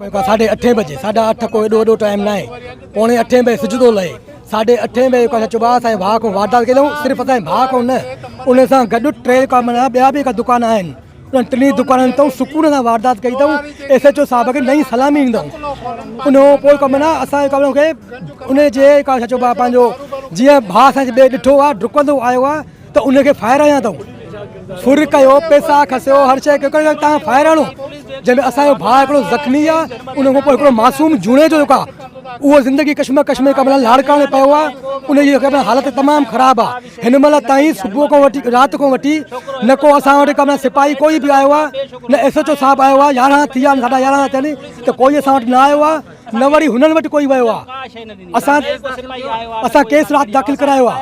ساڍي اٺين بجي ساڍا اٺ ڪو ايڏو وڏو ٽائيم ناهي پوڻي اٺين بجي سج ٿو لهي ساڍي اٺين بجي اسان چئبو آهي اسان جي ڀاء کان واردات ڪئي اٿئون صرف اسان جي ڀاء کان نه ان سان گڏ ٽي ڪا معنيٰ ٻيا به دڪان آهن انهن ٽنهي دڪانن تي سڪون سان واردات ڪئي اٿئون ايس ايچ او صاحب کي نئين سلامي ڏيندؤن ان کان پوء ڪا معنيٰ اسان جي ڪم کي ان جي ڪا ڇا چئبو آهي پنهنجو جيئن ڀاء اسان جي ڏٺو آهي ڊڪندو آيو آهي ته ان کي ڦاهي رهيا اٿئون سر ڪيو پيسا کسيو هر شيء کي ڪيو تان ڦاهي رهڻو جنهن ۾ اسان جو ڀاء هڪڙو زخمي آ ان کان پوء هڪڙو معصوم جوڻي جو جيڪو آ اهو زندگي ڪشمه ڪش ۾ قبل لاڙڪاڻي پيو آ ان جي قبل حالت تمام خراب آ هن مهل تائين صبح کان وٺي رات کان وٺي نه ڪو اسان وٽ قبل سپاهي ڪوئي به آيو آ نه ايس ايچ او صاحب آيو آ يارهن ٿي ويا آهن ساڍا يارهن ٿيا آهن ته ڪوئي اسان وٽ نه آيو آ نه وري هنن وٽ ڪوئي ويو آ اسان اسان ڪيس رات داخل ڪرايو آ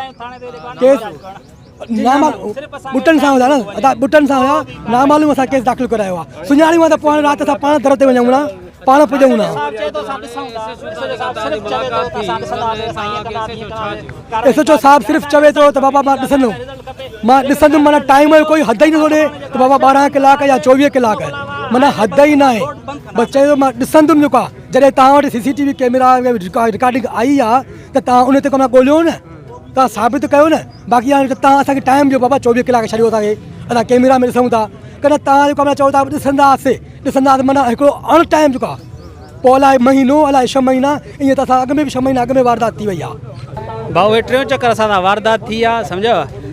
ڪيس نامال بٽن سان هيا نه ادا بٽن سان هيا نامالو اسا کيس داخل ڪرايو آ سڃاڻي واندا پوڻ رات سا پاڻ در تي وڃون نا پاڻ پڄون نا اسو جو صاحب صرف چوي ٿو ته بابا ما ڏسندو مان ڏسندم معنيٰ ٽائيم جو ڪوئي حد ئي نٿو ڏي ته بابا ٻارهن ڪلاڪ يا چوويهه ڪلاڪ معنيٰ حد ئي ناهي بس چيو ته مان ڏسندم جيڪو آهي جڏهن توهان وٽ C C T V camera recording آئي آهي ته توهان ان تي ڪو نه ڳوليو نه توهان ثابت ڪيو نه باقي هاڻي ته توهان اسان کي ٽائيم ڏيو بابا چوويهه ڪلاڪ ڇڏيو اسان کي اسان ڪئميرا ۾ ڏسون ٿا ڪنهن توهان جيڪو چئو ٿا ڏسنداسي ڏسنداسي معنيٰ هڪڙو اڻ ٽائيم جيڪو آهي پوء الاء مهينو الاء ڇهه مهينا ائين ته اسان اڳ ۾ به ڇهه مهينا اڳ ۾ واردات ٿي وئي آ. ڀائو هي ٽيون چڪر اسان سان واردات ٿي آ سمجهيو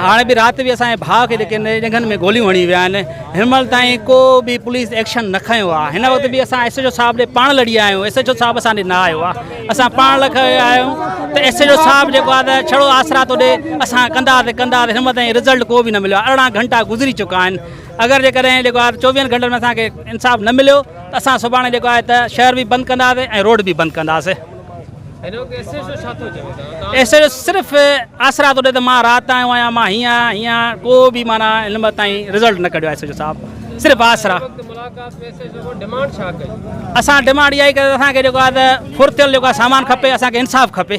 هاڻي به رات به اسان جي ڀاء کي جيڪي ڄنگهن ۾ گوليون هڻي ويا آهن هن مهل تائين ڪو به پوليس ايڪشن نه کنيو آ هن وقت به اسان ايس ايڇ او صاحب ڏي پاڻ لڙي آيا آهيون ايس ايڇ او صاحب اسان ڏي نه آيو آ اسان پاڻ لکي آيا آهيون ته ايس ايڇ او صاحب جيڪو آ ته ڇڙو آسرا ٿو ڏي اسان ڪندا ته ڪندا هن مهل تائين رزلٽ ڪو به نه مليو آ ارڙهن گهنٽا گذري چڪا آهن اگر جيڪڏهن جيڪو آهي ته چوويهن گهنٽن ۾ اسان کي انصاف نه مليو ته اسان سڀاڻي جيڪو آهي ته شهر به بند ڪنداسين ۽ روڊ به بند ڪنداسين. ايس ايڇ او صرف آسرا ٿو ڏي ته مان رات آيو آهيان مان هيئن آهيان هيئن آهيان ڪو به معنيٰ هن وقت تائين رزلٽ نه ڪڍيو آهي ايس ايڇ او صاحب صرف آسرا اسان ڊمانڊ اها ئي ڪئي ته اسان کي جيڪو آهي ته ڦرتيل جيڪو آهي سامان کپي اسان کي انصاف کپي.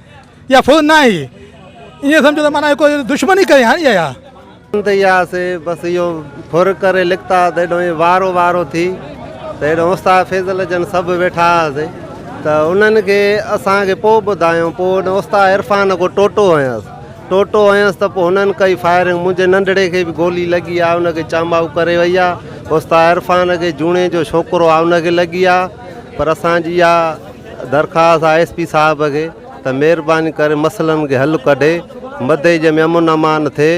يا فوج ناهي ائين سمجهو ته معنيٰ هڪ دشمن ئي ڪري هڻي آيا. ڪم تي آياسي بس اهو ڦر ڪري لڪتا ته هيڏانهن هي وارو وارو ٿي ته هيڏانهن استاد فيضل جن سڀ ويٺا هئاسي ته انهن کي اسان کي پوء ٻڌايائون پوء هن استاد عرفان کي ٽوٽو هنيس ٽوٽو هنيس ته پوء هنن ڪئي فائرنگ منهنجي ننڍڙي کي به گولي لڳي آهي ان کي چانباهو ڪري وئي آهي استاد عرفان کي جوڻيجو ڇوڪرو آهي ان کي لڳي آهي پر اسان جي اها درخواست آء ايس پي صاحب کي ته مهرباني ڪري مسئلن کي حل ڪڍي مدئجي ۾ امن امان ٿئي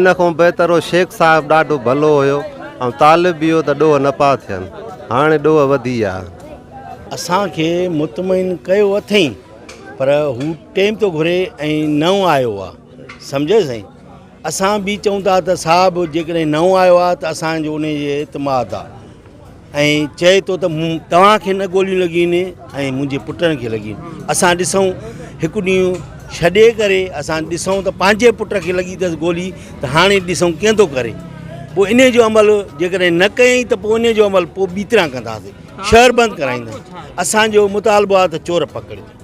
ان کان بهتر هو شيخ صاحب ڏاڍو ڀلو هيو ۽ طالب به هيو ته ڏوهه نه پيا ٿين هاڻي ڏوهه وڌي ويا اسان کي مطمئن ڪيو اٿئي پر هو ٽيم ٿو گهري ۽ نئون آيو آ سمجهيو سائين اسان به چئون ٿا ته صاحب جيڪڏهن نئون آيو آ ته اسان جو ان جي اعتماد آ ۽ چئي ٿو ته مون توهان کي نه گوليون لڳين ۽ منهنجي پٽن کي لڳين اسان ڏسون هڪ ڏينهن ڇڏي ڪري اسان ڏسون ته پنهنجي پٽ کي لڳي اٿس گولي ته هاڻي ڏسون ڪئين ٿو ڪري پوء ان جو عمل جيڪڏهن نه ڪيائين ته پوء ان جو عمل پوء ٻي طرح ڪنداسي شهر بند ڪرائينداسي اسانجو مطالبو آهي ته چور پڪڙيو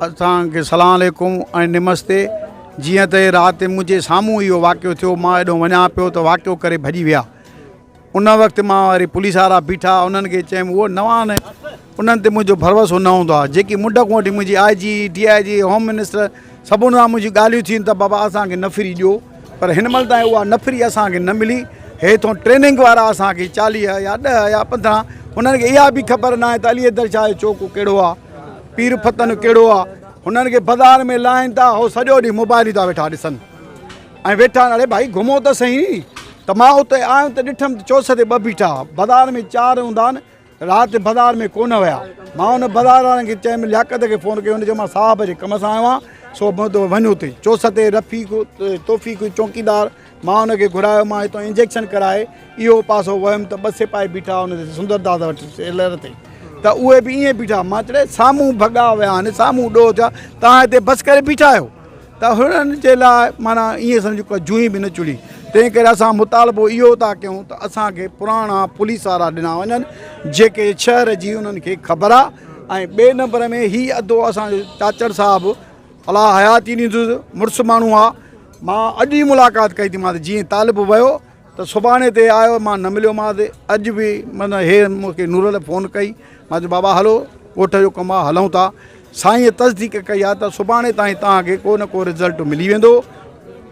اڄ توهان کي سلام عليڪم ۽ نمستي جيئن ته رات منهنجي سامهون اهو واقعو ٿيو مان هيڏو وڃان پيو ته واقعو ڪري ڀڄي ويا ان وقت مان وري پوليس وارا بيٺا انهن کي چيم هو نوان انهن تي منهنجو ڀروسو نه هوندو آهي جيڪي منڊ کان وٺي منهنجي I G D I G home minister سڀن سان منهنجي ڳالهيون ٿيون ته بابا اسانکي نفري ڏيو پر هن مهل تائين اها نفري اسانکي نه ملي هي ٿو ٽريننگ وارا اسانکي چاليهه يا ڏهه يا پندرهن انهن کي اها به خبر نه آهي ته علي حيدر شاهه جو چوڪو ڪهڙو آهي پير فتن ڪهڙو آ هنن کي بازار ۾ لاهين ٿا هو سڄو ڏينهن موبائل ئي ٿا ويٺا ڏسن ۽ ويٺا اڙي ڀائي گهمو ته سهي ته مان اتي آيم ته ڏٺم ته چوس تي ٻه بيٺا بازار ۾ چار هوندا آهن رات بازار ۾ ڪونه ويا مان ان بازار وارن کي چيم لياقت کي فون ڪيو هن چيو مان صاحب جي ڪم سان آيو آهيان سو وڃو اتي چوس تي رفيق توفيق چوڪيدار مان ان کي گهرايو مان هتان انجيڪشن ڪرائي اهو پاسو ويم ته ٻه سپاهي بيٺا ان تي سندر دادا وٽ سيلر تي ته اهي به ائين بيٺا مان چڙي سامهون ڀڳا ويا آهن سامهون ڏوهه ٿيا تان هتي بس ڪري بيٺا آهيو ته هنن جي لاء مانا ائين سمجهو ڪا جوئي به نه چڙي تنهن ڪري اسان مطالبو اهو ٿا ڪيون ته اسانکي پراڻا پوليس وارا ڏنا وڃن جيڪي شهر جي انهن کي خبر آهي ۽ ٻئي نمبر ۾ هي ادو اسان چاچڙ صاحب الله حياتي ڏيندس مڙس ماڻهو آهي مان اڄ ئي ملاقات ڪئي ٿي مانس جي طالب ويو ته سڀاڻي تي آيو مان نه مليو مانس اڄ به من هي مونکي نورل فون ڪئي مان چيو بابا هلو ڳوٺ جو ڪم آ هلون ٿا سائين تصديق ڪئي آ ته سڀاڻي تائين تان کي ڪو نه ڪو رزلٽ ملي ويندو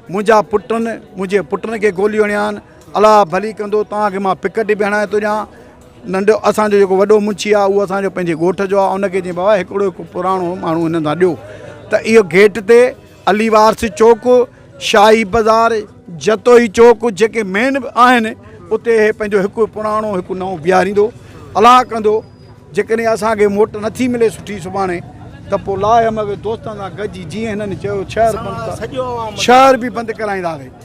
منهنجا پٽن منهنجي پٽن کي گوليون هڻيا آهن الله ڀلي ڪندو تان کي مان پڪٽ به هڻائي ٿو ڏيان ننڍو اسان جو جيڪو وڏو منشي آ اهو اسان جو پنهنجي ڳوٺ جو آ ان کي چئي بابا هڪڙو هڪ پراڻو ماڻهو هنن سان ڏيو ته اهو گيٽ تي علي وارث چوڪ، شاهي بازار، جتوئي چوڪ جيڪي مين آهن اتي هي پنهنجو هڪ پراڻو هڪ نئون بيهاريندو الاهه ڪندو جيڪڏهن اسان کي موٽ نٿي ملي سٺي سڀاڻي ته پوء لاء هم اهي دوستن سان گڏجي جيئن هنن چيو شهر بند ڪر شهر به بند ڪرائينداسين.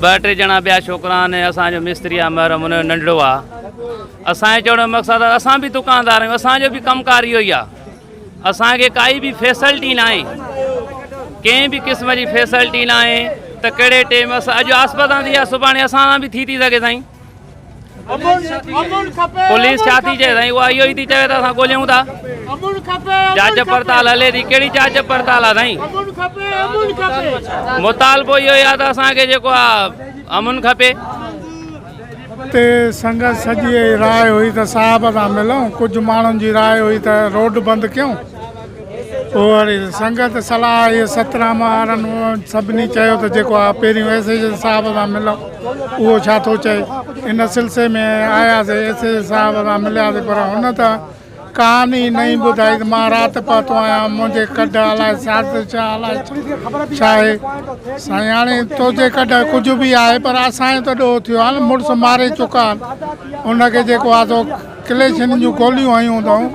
ٻه ٽي ڄڻا ٻيا ڇوڪرا آهن ۽ اسان جو مستري آهي محرم ان جو ننڍڙو آهي. اسان جو چوڻ جو مقصد آهي اسان به دڪاندار آهيون اسان جو به ڪم ڪار اهو ئي آهي اسان کي ڪائي به فيسلٽي ناهي ڪنهن به قسم جي فيسلٽي ناهي ته ڪهڙي ٽيم اڄ آسپدان ٿي آهي سڀاڻي اسان سان به ٿي ٿي سگهي سائين پوليس ڇا ٿي چئي سائين اها اهو ئي ٿي چوي ته اسان ڳوليون ٿا جاچ پڙتال هلي ٿي ڪهڙي جاچ پڙتال آ سائين مطالبو اهو ئي آ ته اسانکي جيڪو آ امن کپي اتي سنگت سڄي راء هئي ته صاحب سان ملون ڪجهه ماڻهن جي راء هئي ته روڊ بند ڪيون اوهڙي سنگت صلاح اهي ست ناما آرن اوهن سڀني چيو ته جيڪو آء پهريون ايس ايڇ ايس صاحب سان مليم اهو ڇا ٿو چئي؟ ان سلسي ۾ آياسي ايس ايڇ ايس صاحب سان ملياسي پر هن ته ڪهاڻي ئي نئين ٻڌائي ته مان رات پهتو آهيان منهنجي ڪڍ الاء سياست ڇا الاء ڇا آهي سائين هاڻي تنهنجي ڪڍ ڪجهه به آهي پر اسان جو ته ڏوهه ٿيو آهي نه مڙس ماري چڪا آهن ان کي جيڪو آهي سو ڪليشن جون گوليون هنيون اٿائون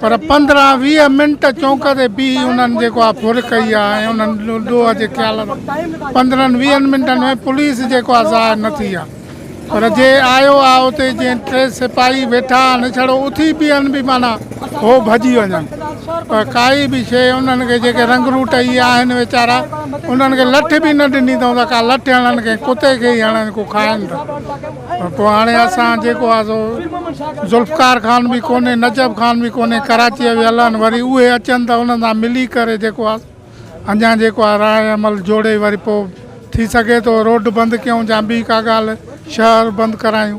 پر پندرهن ويهه منٽ چونڪ تي بيهي انهن جيڪو آهي ڦر ڪئي آهي ۽ انهن ڏوهه جي خيال سان پندرهن ويهن منٽن ۾ پوليس جيڪو آهي ظاهر نه ٿي آهي پر جي آيو آهي اتي جي ٽي سپاهي ويٺا آهن ڇڙو اٿي بيهن به معنيٰ هو ڀڄي وڃن پر ڪائي به شيء انهن کي جيڪي رنگ روٽ اهي آهن ويچارا انهن کي لٺ به نه ڏني اٿائون ته ڪا لٺ هڻن ڪنهن ڪتي کي ئي هڻن ڪو کائن ته پوء هاڻي اسان جيڪو آهي سو ذوالفقار خان به ڪونهي نجف خان به ڪونهي ڪراچيء ويل آهن وري اهي اچن ته انهن سان ملي ڪري جيڪو آهي اڃا جيڪو آهي راء عمل جوڙي وري پوء ٿي سگهي ٿو روڊ بند ڪيون يا ٻي ڪا ڳالهه شهر بند ڪرايون